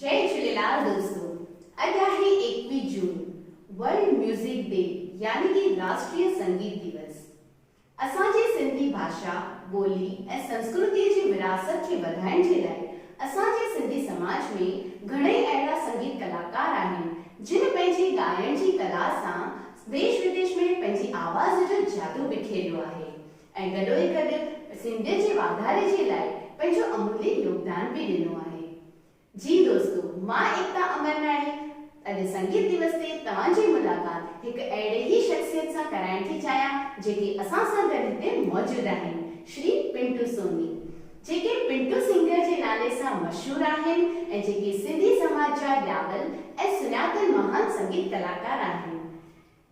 جئي جهوليلال دوستو اڄ آهي ايڪويهه جون ورلڊ ميوزڪ ڊي يعني ڪي راشٽريه سنگيت ديوس اسان جي سنڌي ڀاشا ٻولي ۽ سنسڪرتي جي ورهاست کي وڌائڻ جي لاء اسان جي سنڌي سماج ۾ گهڻئي اهڙا سنگيت ڪلاڪار آهن جن پنهنجي ڳائڻ جي ڪلا سان ديش وديش ۾ پنهنجي آواز جو جادو بکيريو آهي ۽ گڏوگڏ سنڌ جي واڌاري جي لاء پنهنجو امولي يوگدان به ڏنو آهي. جي دوستو مان ايڪتا امرناڻي اڄ سنگيت ديوس تي توهان جي ملاقات هڪ اهڙي ئي شخصيت سان ڪرائڻ ٿي چاهيان جيڪي اسان سان گڏ هتي موجود آهن شري پنٽو سوني جيڪي پنٽو سنگر جي نالي سان مشهور آهن ۽ جيڪي سنڌي سماج جا ڄاول ۽ سڃاتل مهان سنگيت ڪلاڪار آهن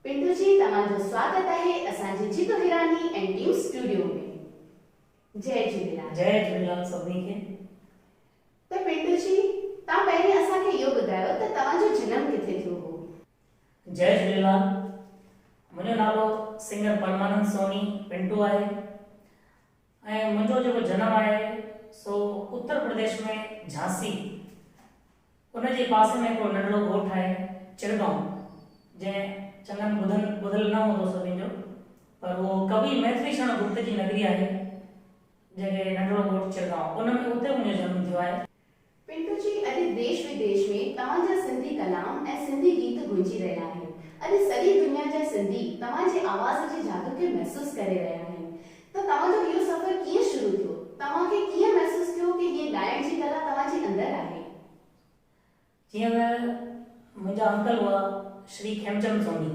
پنڊو جي توهان جو سواگت آهي اسان جي Jeetu Hirani and team studio ۾ جئي جهوليلال. جئي جهوليلال سڀني کي. ته پنڊو جي توهان پهرين اسان کي اهو ٻڌايو ته توهان جو جنم ڪٿي ٿيو هو. جئي جهوليلال منهنجو نالو سنگر پرمانند سوني پنٽو آهي ۽ منهنجو جيڪو جنم آهي سو اتر پرديش ۾ جھانسي ان جي پاسي ۾ هڪڙو ننڍڙو ڳوٺ آهي چرگائون جنهن چڱن ٻڌن ٻڌل نه هوندو سڀني جو پر اهو ڪوي ميٿري شرڻ گپت جي نگري آهي جنهن کي ننڍڙو ڳوٺ چرگائون ان ۾ اتي منهنجو جنم ٿيو آهي. پنٽو جي اڄ ديش وديش ۾ توهان جا سنڌي ڪلام ۽ سنڌي گيت گونجي رهيا آهن. اڄ سڄي دنيا جا سنڌي توهان جي آواز جي جادو کي محسوس ڪري رهيا آهن ته توهان جو اهو سفر ڪيئن شروع ٿيو؟ توهان کي ڪيئن محسوس ٿيو ڪي هيء ڳائڻ جي ڪلا توهان جي اندر آهي؟ جيئن ته منهنجا انڪل هئا شري کيمچند سومري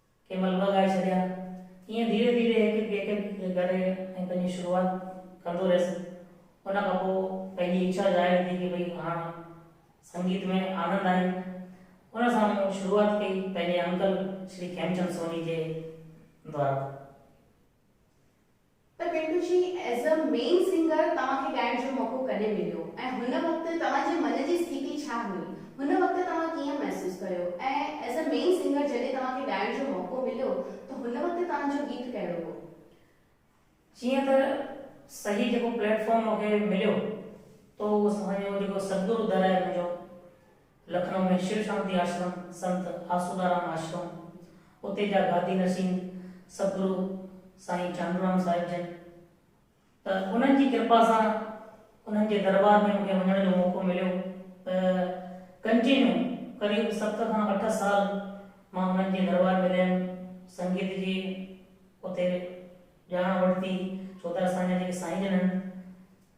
ڪنهن مهل ٻه ڳائي ڇڏيا. ائين ڌيري ڌيري هڪ هڪ هڪ هڪ ڪري ۽ پنهنجي شروعات ڪندو رهيس. ان کان پوء پنهنجي اڇا ظاهر ٿي ڪي ڀئي هاڻ سنگيت ۾ آنند آهي. ان سان مون شروعات ڪئي پنهنجي انڪل شري کيمچند سوني جي دؤر. ته پنڊو جي ايز اي مين سنگر توهان کي ڳائڻ جو موقعو ڪڏهن مليو ۽ هن وقت توهان جي من جي استيتي ڇا هئي؟ هن وقت توهان ڪيئن محسوس ڪيو ۽ ايز اي مين سنگر جڏهن توهان کي ڳائڻ جو موقعو مليو ته هن وقت توهان جو گيت ڪهڙو هو؟ جيئن ته صحيح جيڪو پليٽ فارم مون کي مليو تو اهو سمجهو جيڪو ستگرو در آهي منهنجو. لکنؤ ۾ شو شانتي آشرم، سنت آسودارام آشرم، اتي جا گادي نشين سدگرو سائين چانڊورام صاحب جن ته انهن جي ڪرپا سان انهن جي درٻار ۾ مون کي وڃڻ جو موقعو مليو ته ڪنٽينيو قريب ست کان اٺ سال مان انهن جي درٻار ۾ رهيم سنگيت جي اتي ڄاڻ ورتي ڇو ته اسان جا جيڪي سائين جن آهن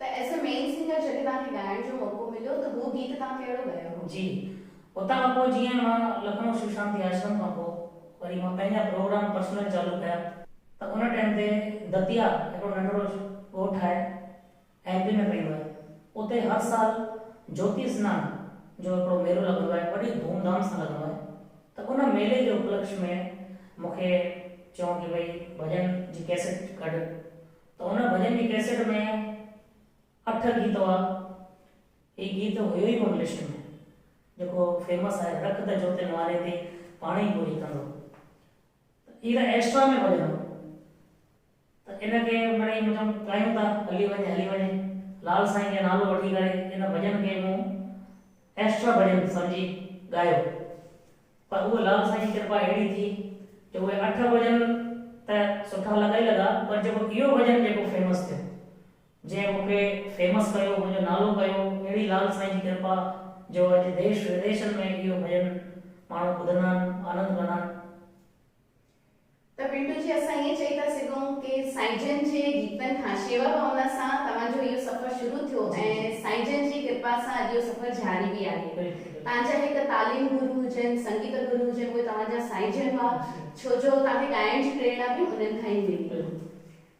ته ايز اي مين سنگر جڏهن توهان کي ڳائڻ جو موقعو مليو ته هو گيت توهان ڪهڙو ڳايو هو؟ جي اتان کان پوء جيئن مان لکنو شو شانتي آشرم کان پوء وري مان پنهنجا پروگرام پرسنل چالو ڪيا. ته ان ٽائيم تي دتيا هڪڙو ننڍڙو ڳوٺ آهي ايم پي ۾ پئندو آهي اتي هر سال جوتي سنان جو هڪڙو ميلو لڳندو آهي وڏي ڌوم ڌام سان لڳندو آهي ته ان ميلي جي اپلڪش ۾ مونکي چيون ڪي ڀئي ڀڄن جي ڪيسٽ ڪڍ ته هن ڀڄن جي ڪيسيٽ ۾ اٺ گيت هئا. هي گيت هيو ئي ڪونه لسٽ ۾ جيڪو فيمس آهي رک ته جوتي نواري تي پاڻ ئي پوري ڪندو. ته هي ته ايڪسٽرا ۾ ڀڄن هو. ته ان کي مڙئي مون چيم ڳايون ٿا هلي وڃي هلي وڃي لال سائين کي نالو وٺي ڪري ان ڀڄن کي مون ايڪسٽرا ڀڄن سمجهي ڳايو. پر اهو لال سائين جي ڪرپا اهڙي ٿي جو اهي اٺ ڀڄن ته سٺا لڳا ئي لڳا پر جيڪو اهو ڀڄن جيڪو فيمس ٿيو جنهن مون کي فيمس ڪيو منهنجو نالو ڪيو اهڙي لال سائين جي ڪرپا جو اڄ ديش وديشن ۾ اهو ڀڄن ماڻهو ٻڌندا آهن آنند ڪندا آهن. ته پنڊو جي اسان ائين چئي ٿا سگهون ڪي سائين جن جي گيتن کان شيوا ڀاونا سان توهان جو اهو سفر شروع ٿيو ۽ سائين جن جي ڪرپا سان اڄ اهو سفر جاري به آهي تان جا هڪ تعليم گرو هجن سنگيت گرو هجن اهي توهان جا سائين جن هئا ڇو جو توهان کي ڳائڻ جي پريرنا به انهن کان ئي ملي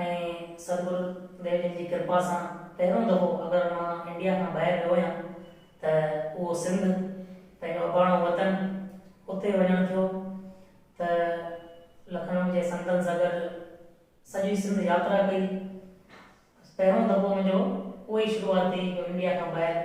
۽ سرگل ديو جن جي ڪرپا سان پهريون دفعو اگر مان انڊيا کان ٻاهر ويو هيان ته اهو سنڌ پنهنجو اباڻو وطن اتي وڃڻ ٿيو ته لکنؤ جي سنتن سان گڏ سڄي سنڌ ياترا ڪئي بس پهريون دفعو منهنجو اهو ئي شروعاتي جو انڊيا کان ٻاهر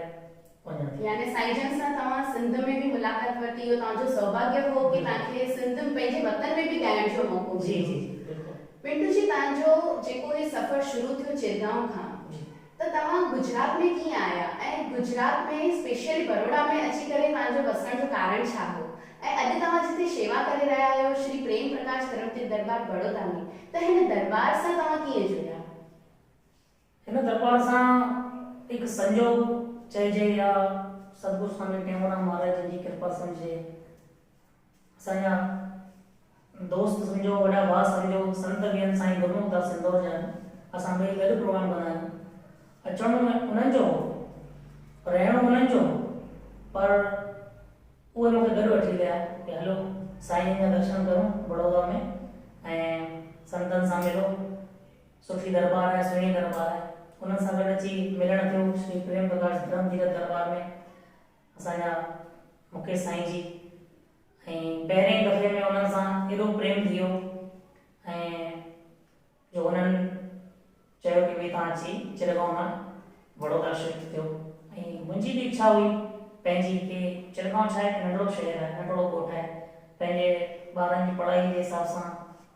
وڃڻ ٿي. يعني سائين جن سان توهان سنڌ ۾ به ملاقات ورتي اهو توهان جو سوڀاگيه هو ڪي توهان کي سنڌ پنهنجي وطن ۾ به ڳائڻ جو موقعو مليو. جي جي جي بلڪل. پنٽو جي توهان جو جيڪو هي سفر شروع ٿيو چيرگائون کان جي. ته توهان گجرات ۾ ڪيئن آيا ۽ گجرات ۾ اسپيشلي بروڙا ۾ اچي ڪري توهان جو وسڻ جو ڪارڻ ڇا هو ۽ اڄ توهان جتي شيوا ڪري رهيا آهيو شري پريم پرڪاش ڪرم تيرٿ درٻار بڙودا ۾ ته هن درٻار سان توهان ڪيئن جڙيا. هن درٻار سان هڪ سنجوڳ چئجي يا سدگرو سوامي ٽيئونرام مهاراج جن جي ڪرپا سمجهجي. اسان جا دوست سمجهو، وڏا ڀاء سمجهو، سنت ويهن سائين گرمک داس اندور جا آهن. اسان ٻئي گڏ پروگرام ڪندا آهيون. اچڻو انهن جو هو، رهڻو انهن جو هو پر اهي مون کي گڏ وٺي ويا ته هلو سائين جن جا درشن ڪرون بڙودا ۾ ۽ سنتن سان ملو. سٺي درٻار آهي، سهڻي درٻار آهي. انهن سان گڏ اچي ملڻ ٿيو شري پريم پرڪاش ڌرم تيرٿ درٻار ۾ اسان جا مڪيش سائين جي ۽ پهرين دفعي ۾ انهن سان ايڏو پريم ٿي ويو ۽ جو انهن چيو ڪي ڀئي توهان اچي چرگاؤن مان وڙوڌرا شفٽ ٿيو ۽ منهنجي به اڇا هئي پنهنجي ڪي چرگاؤن ڇا هڪ ننڍڙو شهر آهي، ننڍڙو ڳوٺ آهي، پنهنجي ٻارن جي پڙهائي جي حساب سان،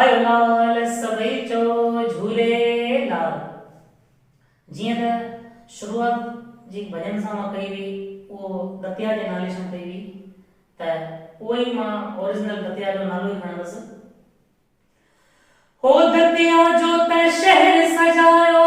آيو لال سڀئي چئو جھولي لال. جيئن ته شروعات جي ڀڄن سان مان ڪئي هئي اهو دتيا جي نالي سان ڪئي هئي ته اهو ئي مان اوريجنل دتيا جو نالو ئي کڻندس. هو دتيا جو ته شهر سجايو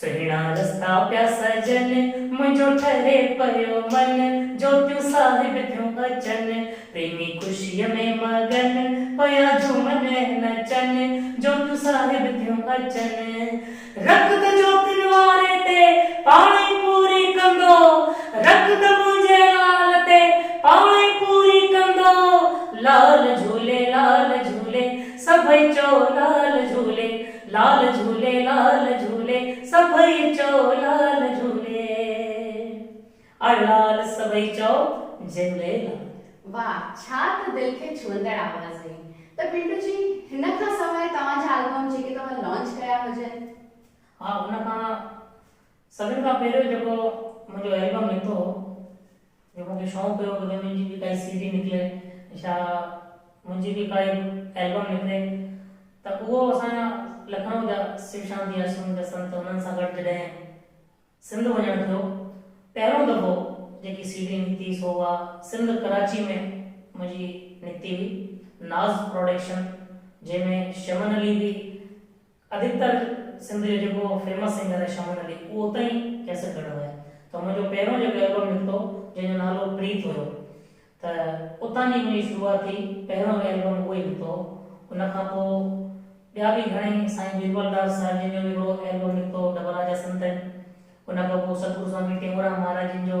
سهڻا رستا پيا سجن، منهنجو ٺري پيو من، جوتيون صاحب ٿيون اچن، پريمي خوشيء ۾ مگن، پيا جهومن ۽ نچن، جوتيون صاحب ٿيون اچن. رک ته جوتين واري تي، پاڻ ئي پوري ڪندو، رک ته منهنجي لال تي، پاڻ ئي پوري ڪندو، لال جهولي لال جهولي، سڀئي چئو لال جهولي. لال جھولي لال جھولي سڀئي چئو لال جھولي اڙ لال سڀئي چئو جھولي لال. واھ ڇا ته دل کي ڇهندڙ آواز هئي ته پنڊو جي هن کان سواء توهان جا البم جيڪي توهان لانچ ڪيا هجن. ها ان کان سڀن کان پهريون جيڪو منهنجو البم نڪتو هو جو مون کي شونق هيو ته منهنجي به ڪائي سي ڊي نڪري يا منهنجي به ڪائي البم نڪري ته اهو اسان جا لکنئو جا شو شانتي آشرم جا سنت انهن سان گڏ جڏهن سنڌ وڃڻ ٿيو پهريون دفعو جيڪي سي ڊي نڪتي سو اها سنڌ ڪراچي ۾ منهنجي نڪتي هئي ناز پراڊڪشن جنهن ۾ شمن علي به ادھڪتر سنڌ جو جيڪو فيمس سنگر آھي شمن علي اھو اتان ئي ڪيسٽ ڪڍيو آھي ته منھنجو پهريون جيڪو البم نڪتو جنھن جو نالو پريت ھيو ته اتان جي منھنجي شروعات ٿي پهريون به البم اھو ئي نڪتو ھو ان کان پوء ٻيا به گھڻئي سائين بيربل ڊار صاحب جن جو به ھڪڙو البم نڪتو ھو ڊبلا جا سنتن ان کان پوء ستگرو سوامي ٽيئونرام مھاراج جن جو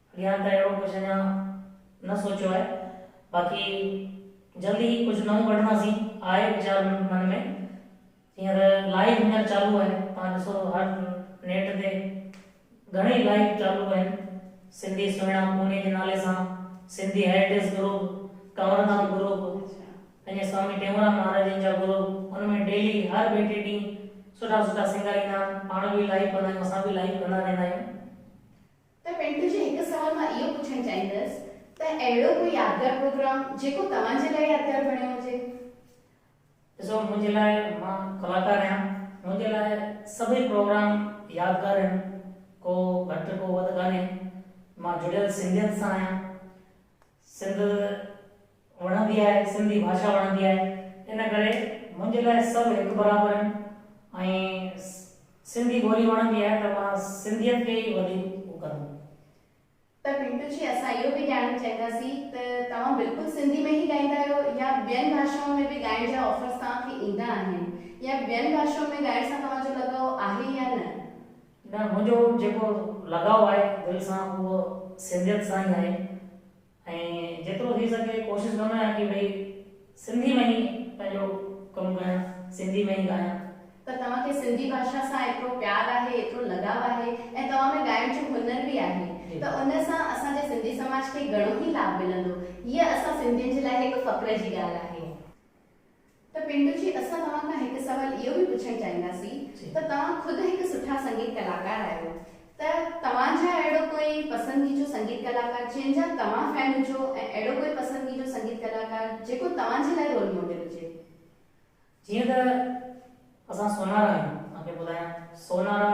يا ته اهڙو ڪجهه اڃا نه سوچيو آهي، باقي جلد ئي ڪجهه نئون ڪڍنداسين، آهي ويچار من ۾، جيئن ته لائيو هينئر چالو آهي، توهان ڏسو ٿا هر نيٽ تي گهڻي لائيو چالو آهن، سنڌي سهڻا پوني جي نالي سان، Sindhi heritage group, Kanwar Nath group, پنهنجي سوامي ٽيئونرام مهاراجن جا گروپ، ان ۾ ڊيلي هر ٻئي ٽي ڏينهن سٺا سٺا سنگر ايندا آهن، پاڻ به لائيو ڪندا آهيون، اسان به لائيو ڪندا رهندا آهيون. ته پنڊ جي هڪ سوال مان اهو پڇڻ چاهيندس ته اهڙو ڪو يادگار پروگرام جيڪو توهان جي لاء يادگار بڻيو هجي؟ ڏسو منهنجي لاء مان ڪلاڪار آهيان منهنجي لاء سڀئي پروگرام يادگار آهن ڪو گهٽ ڪو وڌ ڪانهي مان جڙيل سنڌيت سان آهيان. سنڌ وڻندي آهي سنڌي ڀاشا وڻندي آهي ان ڪري منهنجي لاء سڀ هڪ برابر آهن ۽ سنڌي ٻولي وڻندي آهي ته مان سنڌيت کي ئي وڌيڪ هو ڪندم. ته پنٽو جي اسان اهو به ڄاڻڻ چاهينداسين ته توهان بلڪل سنڌي ۾ ئي ڳائيندا آهيو يا ٻين ڀاشائن ۾ به ڳائڻ جا آفرز توهان کي ايندا آهن يا ٻين ڀاشائن ۾ ڳائڻ سان توهان جو لڳاء آهي يا نه؟ نه منهنجو جيڪو لڳاء آهي دل سان اهو سنڌيت سان ئي آهي ۽ جيترو ٿي سگهي ڪوشش ڪندو آهيان ڪي ڀئي سنڌي ۾ ئي پنهنجو ڪم ڪيان سنڌي ۾ ئي ڳايان. ته توهان کي سنڌي ڀاشا سان ايترو پيار آهي ايترو لڳاء آهي ۽ توهان ۾ ڳائڻ جو هنر به آهي ته ان سان اسان جي سنڌي سماج کي گهڻو ئي لاڀ ملندو هيء اسان سنڌين جي لاء هڪ فخر جي ڳالهه آهي. ته پنڊو جي اسان توهان کان هڪ سوال اهو به پڇڻ چاهينداسين ته توهان خود هڪ سٺا سنگيت ڪلاڪار آهيو ته توهان جا اهڙو ڪوئي پسندگيجو سنگيت ڪلاڪار جنهن جا توهان فين هجو ۽ اهڙو ڪوئي پسندگيجو سنگيت ڪلاڪار جيڪو توهان جي لاء رول ماڊل هجي. جيئن ته اسان سونارا آهيون توهان کي ٻڌايان سونارا.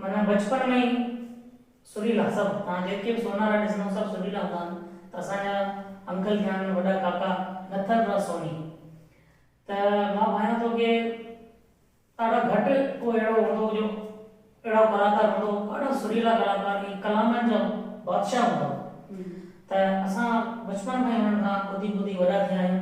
معنيٰ بچپڻ ۾ ئي سريلا سڀ توهان جيڪي به سونارا ڏسندؤ سڀ سريلا هوندا آهن ته اسان جا انڪل ٿيا آهن وڏا ڪاڪا نٿن راء سوني ته مان ڀانيان ٿو ڪي ڏاڍا گهٽ ڪو اهڙو هوندو هو جو اهڙو ڪلاڪار هوندو هو ڏاڍا سريلا ڪلاڪار ۽ ڪلامن جا بادشاهه هوندا هئا ته اسان بچپڻ کان ئي انهن کان ٻڌي ٻڌي وڏا ٿيا آهيون.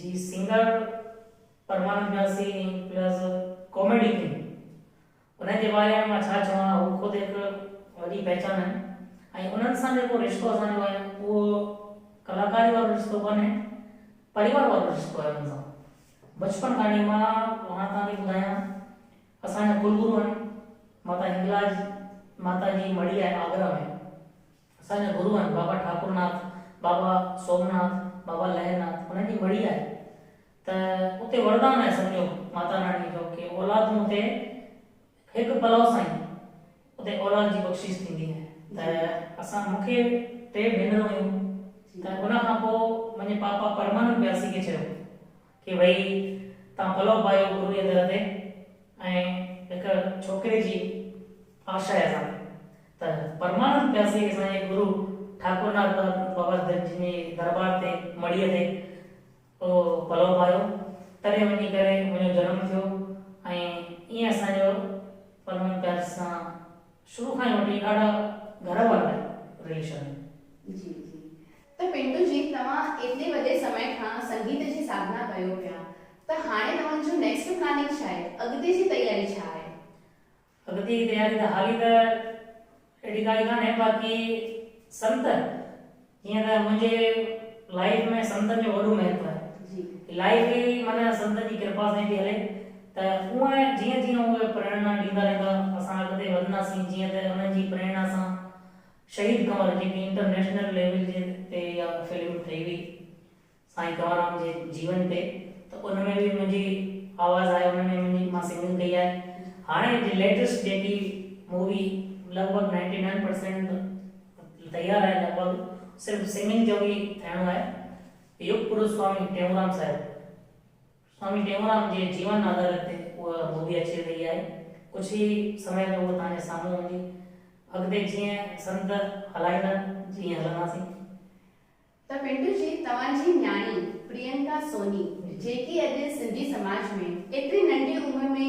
جي singer Parmanand Vyasi plus comedy king انهن جي باري ۾ مان ڇا چوان هو خود هڪ وڏي پهچان آهن ۽ انهن سان جيڪو رشتو اسان جو آهي اهو ڪلاڪاري وارو رشتو ڪانهي پريوار وارو رشتو آهي انهن سان بچپن کان وٺي مان هاڻ توهان کي ٻڌايان اسان جا ڪلگرو آهن ماتا هنگلاج ماتا جي مڙهي آهي آگرا ۾ اسان جا گرو آهن بابا ٺاڪر ناٿ، بابا سومناٿ، بابا لهر ناٿ انهن جي مڙهي آهي ته اتي وردان آهي سمجهو ماتا راڻي جو ڪي اولاد تون اتي هڪ پلئو سائين اتي اولاد جي بخشش ٿيندي آهي ته اسان مون کي ٽي ڀينرون هيون ته ان کان پوء منهنجي پاپا پرمانند پياسي کي چيو کي وئي تان پلئو پايو گرو جي در تي ۽ هڪ ڇوڪري جي آشا هي اسان کي ته پرمانند پياسي اسان جي گرو ٺاڪرناٿ بابا جن جي دربار تي مڙيء تي اهو پلئو پايو تڏهن وڃي ڪري منهنجو جنم ٿيو ۽ ائين اسان جو پرمانند پياسي سان شروع کان ئي وٺي ڏاڍا گهر وارا رليشن آهن. جي جي ته پنڊو جي توهان ايتري وڏي سمي کان سنگيت جي ساڌنا ڪيو پيا ته هاڻي توهان جو نيڪسٽ پلاننگ ڇا آهي؟ اڳتي جي تياري ڇا آهي؟ اڳتي جي تياري ته حالي ته اهڙي ڪائي ڪانهي باقي سنت جيئن ته منهنجي لائيف ۾ سنتن جو وڏو مهتو آهي جي لائيف ئي معنيٰ سنتن جي ڪرپا سان ئي ٿي هلي ته اوهين جيئن جيئن اهي پريڻا ڏيندا رهندا اسان اڳتي وڌنداسين جيئن ته انهن جي پريڻا سان شهيد ڪنور جيڪي انٽرنيشنل ليول جي تي اها فلم ٺهي هئي سائين ڪنوررام جي جيون تي ته ان ۾ به منهنجي آواز آهي ان ۾ منهنجي مان سنگنگ ڪئي آهي هاڻي جي ليٽيسٽ جيڪي مووي لڳ ڀڳ نائنٽي نائن پرسينٽ تيار آهي لڳ ڀڳ صرف سنگنگ جو ئي ٿيڻو آهي يوگ پروسوامي ٽيئونرام صاحب سوامي ٽيئونرام جي جيون آڌارت تي اها مووي اچي رهي آهي. ڪجهه ئي سمي ۾ اها توهان جي سامهون هوندي. اڳتي جيئن سنت هلائيندن جيئن هلنداسين. ته پنڊو جي توهان جي نياڻي پرينڪا سوني جيڪي اڄ سنڌي سماج ۾ ايتري ننڍي عمر ۾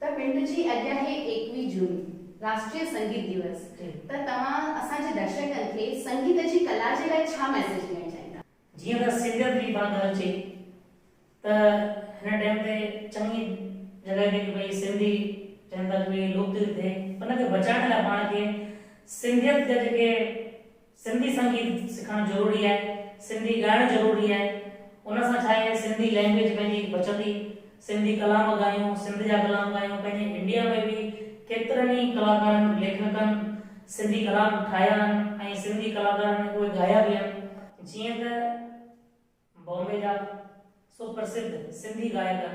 ته پنڊ جي اڄ آهي ايڪويهه جون راشٽريه سنگيت ديوس ته توهان اسان جي درشڪن کي سنگيت جي ڪلا جي لاء ڇا ميسيج ڏيڻ چاهيندا؟ جيئن ته سنگت جي پاڻ ڳالهه اچي ته هن ٽائيم تي چڱي جڳهه تي ڪي ڀئي سنڌي چون ٿا ڪي ڀئي لوڪ ترت ٿئي ان کي بچائڻ لاء پاڻ کي سنگيت جا جيڪي سنڌي سنگيت سکڻ ضروري آهي، سنڌي ڳائڻ ضروري آهي، ان سان ڇا آهي سنڌي لينگويج پنهنجي بچندي، سنڌي ڪلام ڳايون، سنڌ جا ڪلام ڳايون، پنهنجي انڊيا ۾ به ڪيترن ئي ڪلاڪارن، ليکڪن سنڌي ڪلام ٺاهيا آهن ۽ سنڌي ڪلاڪارن اهي ڳايا به آهن، جيئن ته بامبي جا سپرسڌ سنڌي ڳائڪن.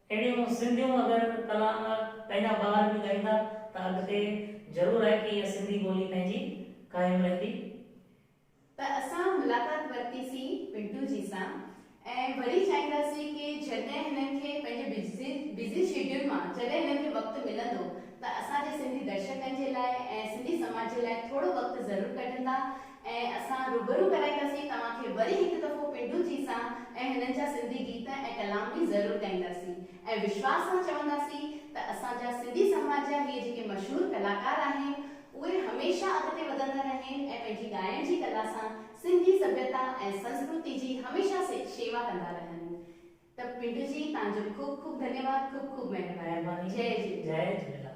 اهڙيون سنڌيون اگر ڪلام پنهنجا ٻار به ڳائيندا ته اڳتي ضرور آهي ڪي اها سنڌي ٻولي پنهنجي قائم رهندي. ته اسان ملاقات ورتي سين پنٽو جي سان ۽ وري چاهينداسين ڪي جڏهن هنن کي پنهنجي بزي شيڊيول مان جڏهن هنن کي وقت ملندو ته اسان جي سنڌي درشڪن جي لاء ۽ سنڌي سماج جي لاء ٿورو وقت ضرور ڪڍندا ۽ اسان روبرو ڪرائينداسين توهان کي وري هڪ دفعو پنڊو جي سان ۽ هنن جا سنڌي گيت ۽ ڪلام به ضرور ڳائينداسين ۽ وشواس سان چونداسين ته اسان جا سنڌي سماج جا هي جيڪي مشهور ڪلاڪار آهن اهي هميشه اڳتي وڌندا رهين ۽ پنهنجي ڳائڻ جي ڪلا سان سنڌي سڀيتا ۽ سنسڪرتي جي هميشه شيوا ڪندا رهن ته پنڊو جي تهان جو خوب خوب ڌنيواد خوب خوب مهرباني جي جهليلال.